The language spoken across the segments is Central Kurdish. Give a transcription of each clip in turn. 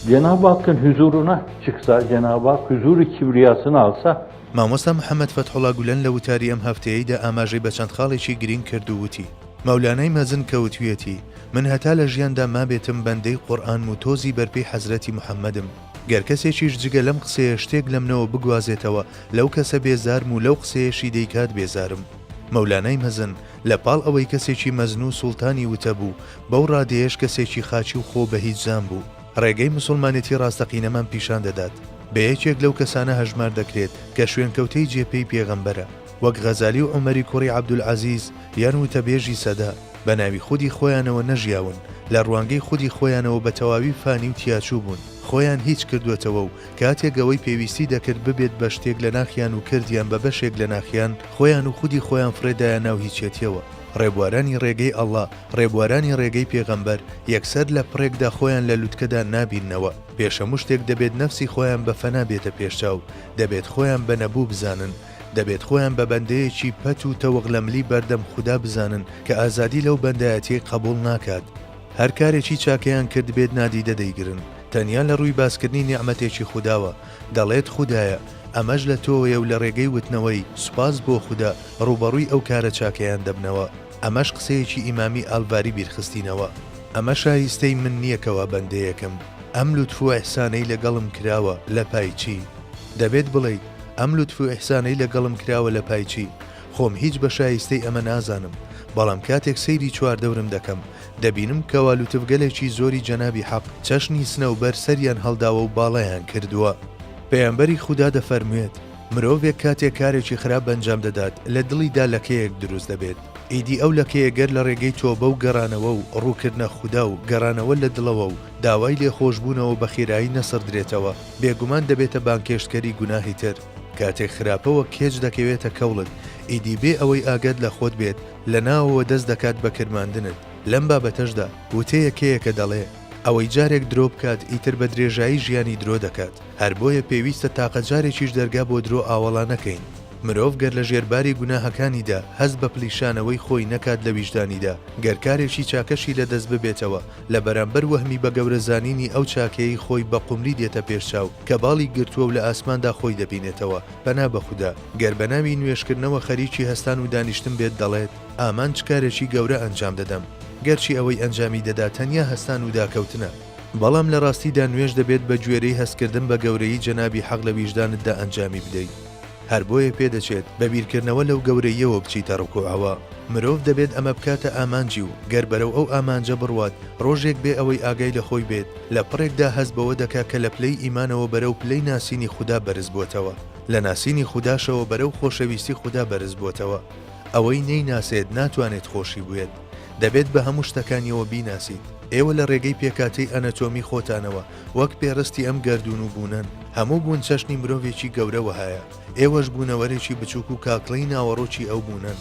جناب آقن حضور نه چکسا جناب آق حضور کبریاسن آلسا مامۆستا محەممەد فەتحوڵا گولەن لە وتاری ئەم هەفتەیەیدا ئاماژەی بە چەند خاڵێکی گرینگ کرد و وتی مەولانای مەزن کە وتویەتی من هەتا لە ژیاندا مابێتم بەندەی قورئانم و تۆزی بەرپێی حەزرەتی محەممەدم گەر کەسێکیش جگە لەم قسەیە شتێک لەمنەوە بگوازێتەوە، لەو کەسە بێزارم و لەو قسەیەشی دەیکات بێزارم. مەولانای مەزن، لە پاڵ ئەوەی کەسێکی مەزن و سوڵتانی وتە بوو، بەو ڕادەیەش کەسێکی خاکی و خۆ بە هیچ زان بوو. ڕێگەی موسوڵمانێتی ڕاستەقینەمان پیشان دەدات. بە یەکێک لەو کەسانە هەژمار دەکرێت کە شوێنکەوتەی جێ پێی پێغەمبەرە. وەک غەزالی و عومەری کوڕی عەبدولعەزیز یان وتەبێژی سەدە، بە ناوی خودی خۆیانەوە نەژیاون، لە ڕوانگەی خودی خۆیانەوە بە تەواوی فانی و تیاچوو بوون، خۆیان هیچ کردووەتەوە و کاتێک ئەوەی پێویستی دەکرد ببێت بە شتێک لە ناخیان و کردیان بە بەشێک لە ناخیان، خۆیان و خودی خۆیان فڕێدایە ناو هیچیەتیەوە. ڕێبوارانی ڕێگەی ئەڵڵا، ڕێبوارانی ڕێگەی پێغەمبەر، یەکسەر لە پڕێکدا خۆیان لە لوتکەدا نابیننەوە، پێش هەموو شتێک دەبێت نەفسی خۆیان بە فەنا بێتە پێشچاو، دەبێت خۆیان بە نەبوو بزانن، دەبێت خۆیان بە بەندەیەکی پەت و تەوەغلەملی بەردەم خودا بزانن کە ئازادی لەو بەندایەتیەی قەبوڵ ناکات، هەر کارێکی چاکەیان کردبێت نادیدە دەیگرن، تەنیا لە ڕووی باسکردنی نیعمەتێکی خوداوە، دەڵێت خودایە ئەمەش لە تۆوەیە و لە ڕێگەی وتنەوەی، سوپاس بۆ خودا، ڕووبەڕووی ئەو کارە چاکەیان دەبنەوە، ئەمەش قسەیەکی ئیمامی ئالڤاری بیرخستینەوە، ئەمە شایستەی من نیە کە وا بەندەیەکم، ئەم لوتف و ئیحسانەی لەگەڵم کراوە لە پای چی؟ دەبێت بڵێیت، ئەم لوتف و ئیحسانەی لەگەڵم کراوە لە پای چی؟ خۆم هیچ بە شایستەی ئەمە نازانم، بەڵام کاتێک سەیری چواردەورم دەکەم، دەبینم کەوا لوتفگەلێکی زۆری جەنابی حەق چەشنی سنەوبەر سەریان هەڵداوە و باڵایان کردووە. پەیامبەری خودا دەفەرموێت، مرۆڤێک کاتێک کارێکی خراپ بەنجام دەدات لە دڵیدا لەکەیەک دروست دەبێت، ئیدی ئەو لەکەیە گەر لە ڕێگەی تۆبە و گەڕانەوە و ڕووکردنە خودا و گەڕانەوە لە دڵەوە و داوای لێخۆشبوونەوە بە خێرایی نەسڕدرێتەوە، بێگومان دەبێتە بانگهێشتکەری گوناهی تر. کاتێک خراپەوە کێچ دەکەوێتە کەوڵت، ئیدی بێ ئەوەی ئاگات لە خۆت بێت، لە ناوەوە دەست دەکات بە کرماندنت. لەم بابەتەشدا وتەیەکەیەکە دەڵێ، ئەوەی جارێک درۆ بکات، ئیتر بە درێژایی ژیانی درۆ دەکات. هەر بۆیە پێویستە تاقە جارێکیش دەرگا بۆ درۆ ئاوەڵا نەکەین. مرۆڤ گەر لە ژێر باری گوناهەکانیدا هەست بە پلیشانەوەی خۆی نەکات لە ویژدانیدا، گەر کارێکی چاکەشی لە دەست ببێتەوە، لە بەرامبەر وەهمی بە گەورە زانینی ئەو چاکەیەی خۆی بە قومری دێتە پێش چاو کە باڵی گرتووە و لە ئاسماندا خۆی دەبینێتەوە، پەنا بە خودا، گەر بە ناوی نوێژکردنەوە خەریکی هەستان و دانیشتن بێت دەڵێت، ئامانج کارێکی گەورە ئەنجام دەدەم، گەرچی ئەوەی ئەنجامی دەدا تەنیا هەستان و داکەوتنە، بەڵام لە ڕاستیدا نوێژ دەبێت بە گوێرەی هەستکردن بە گەورەیی جەنابی حەق لە ویژدانتدا ئەنجامی بدەیت. هەر بۆیە پێدەچێت بە بیرکردنەوە لەو گەورەییەوە بچیتە ڕکوعەوە. مرۆڤ دەبێت ئەمە بکاتە ئامانجی و گەر بەرەو ئەو ئامانجە بڕوات، ڕۆژێک بێ ئەوەی ئاگای لە خۆی بێت، لە پڕێکدا هەست بەوە دەکا کە لە پلەی ئیمانەوە بەرەو پلەی ناسینی خودا بەرز بۆتەوە. لە ناسینی خوداشەوە بەرەو خۆشەویستی خودا بەرز بۆتەوە. ئەوەی نەیناسێت ناتوانێت خۆشی بوێت. دەبێت بە هەموو شتەکانیەوە بیناسیت. ئێوە لە ڕێگەی پێکاتەی ئەنەتۆمی خۆتانەوە وەک پێڕستی ئەم گەردوون و بوونەن، هەموو بوون چەشنی مرۆڤێکی گەورە وەهایە، ئێوەش بوونەوەرێکی بچووک و کاکڵیی ناوەڕۆکی ئەو بوونەن.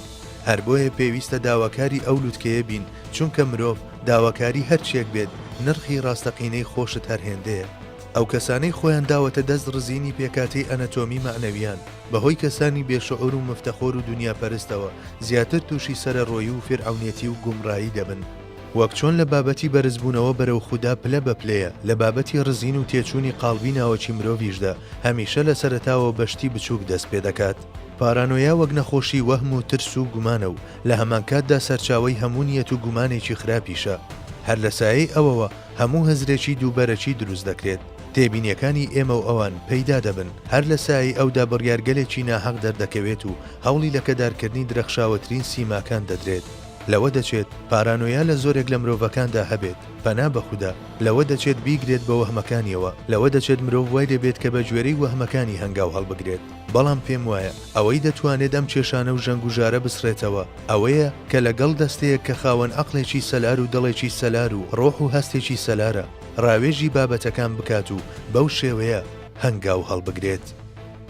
هەر بۆیە پێویستە داواکاری ئەو لوتکەیە بین، چونکە مرۆڤ، داواکاری هەر چییەک بێت، نرخی ڕاستەقینەی خۆشت هەر هێندەیە. ئەو کەسانەی خۆیان داوەتە دەست ڕزینی پێکهاتەی ئەنەتۆمی مەعنەوییان، بە هۆی کەسانی بێ شعور و مفتەخۆر و دونیاپەرستەوە، زیاتر تووشی سەرەڕۆیی و فیرعەونیەتی و گومڕایی دەبن. وەک چۆن لە بابەتی بەرزبوونەوە بەرەو خودا پلە بە پلەیە، لە بابەتی ڕزین و تێچوونی قاڵبی ناوەکی مرۆڤیشدا هەمیشە لە سەرەتاوە بە شتی بچووک دەست پێ دەکات. پارانۆیا وەک نەخۆشی وەهم و ترس و گومانە و لە هەمانکاتدا سەرچاوەی هەموو نیەت و گومانێکی خراپیشە. هەر لە سایەی ئەوەوە هەموو هزرێکی دووبەرەکی دروست دەکرێت. تێبینیەکانی ئێمە و ئەوان پەیدا دەبن. هەر لە سایەی ئەودا بڕیارگەلێکی ناهەق دەردەکەوێت و هەوڵی لەکەدارکردنی درەخشاوەترین سیماکان دەدرێت. لەوە دەچێت پارانۆیا لە زۆرێک لە مرۆڤەکاندا هەبێت، پەنا بە خودا، لەوە دەچێت بیگرێت بە وەهمەکانیەوە، لەوە دەچێت مرۆڤ وای لێ بێت کە بە گوێرەی وەهمەکانی هەنگاو هەڵبگرێت، بەڵام پێم وایە ئەوەی دەتوانێت ئەم کێشانە و ژەنگوژارە بسڕێتەوە ئەوەیە کە لە گەڵ دەستەیەک کە خاوەن عەقڵێکی سەلار و دڵێکی سەلار و ڕۆح و هەستێکی سەلارە ڕاوێژی بابەتەکان بکات و بەو شێوەیە هەنگاو هەڵبگرێت.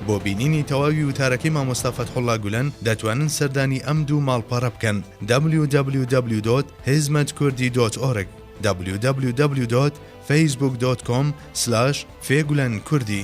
بۆ بینینی تەواوی وتارەکەی مامۆستا فەتحوڵا گولەن دەتوانن سەردانی ئەم دوو ماڵپەڕە بکەن www.hizmetkurdî.org www.facebook.com/fgulenkurdî.